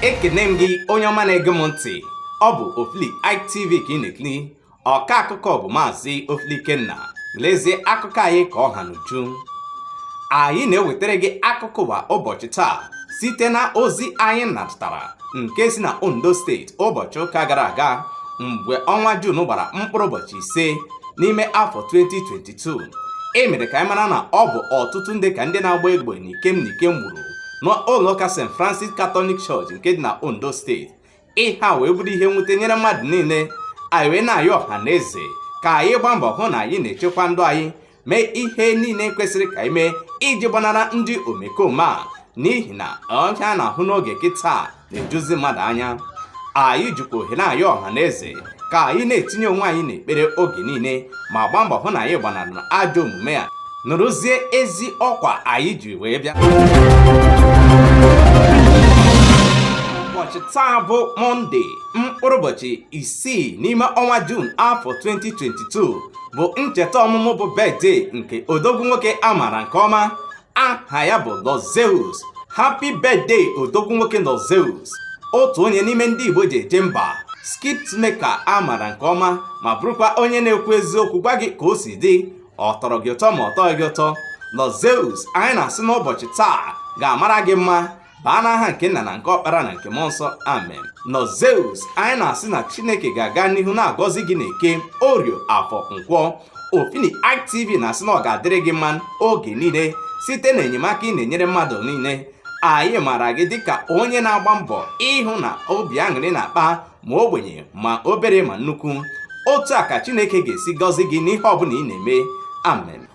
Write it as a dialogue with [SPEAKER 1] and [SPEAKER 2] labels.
[SPEAKER 1] ekene m gị onye ọma na-ege m ntị ọ bụ Ofili IK TV ka ị na-ekiri ọka akụkọ bụ maazị Ofili Ikenna lezie akụkọ anyị ka ọ ha n'uju anyị na-ewetara gị akụkọ ụwa ụbọchị taa site na ozi anyị natara nke si na Ondo steeti ụbọchị ụka gara aga mgbe ọnwa Jun gbara mkpụrụ ụbọchị ise n'ime afọ 2020 2022 e mere ka anyị mara na ọ bụ ọtụtụ ndị ka ndị na-agba egbe n'ikem n'ikem gburu n'ụlọụka St Francis Catholic Church nke dị na Ondo steeti ihe a wee bụrụ ihe nwute nyere mmadụ niile anyị wee na-ayọ ọha na eze ka anyị gbaa mbọ hụ na anyị na-echekwa ndụ anyị mee ihe niile kwesịrị ka anyị mee iji gbanara ndị omekome a n'ihi na ihe a na-ahụ n'oge kịta na-ejuzi mmadụ anya anyị jikwa ohere a na-ayọ ọha na eze ka anyị na-etinye onwe anyị n'ekpere oge niile ma gbaa mbọ hụ na anyị gbanarị ajọ omume a nụrụzie ezi ọkwa anyị ji wee bịa ụbọchị taa bụ mọnde mkpụrụ ụbọchị isii n'ime ọnwa juun afọ 2022 bụ ncheta ọmụmụ bụ birthday nke odogwu nwoke a maara nke ọma aha ya bụ Lord Zeus happy birthday odogwu nwoke Lord Zeus otu onye n'ime ndị Igbo ji eje mba skit maker a maara nke ọma ma bụrụkwa onye na-ekwu eziokwu gwa gị ka o si dị ọ tọrọ gị ụtọ ma ọ tọghị gị ụtọ Lord Zeus anyị na-asị na ụbọchị taa ga-amara gị mma baa n'aha nke nna na nke ọkpara na nke mmụọ nsọ amen Lord Zeus anyị na-asị na chineke ga-aga n'ihu na-agọzi gị na eke orie afọ nkwọ Ofili IK TV na-asị na ọ ga-adịrị gị mma oge niile site na enyemaka ị na-enyere mmadụ niile anyị maara gị dịka onye na-agba mbọ ịhụ na obi aṅụrị na-akpa ma ogbenye ma obere ma nnukwu otu a ka chineke ga-esi gọzi gị n'ihe ọbụla ị na-eme amen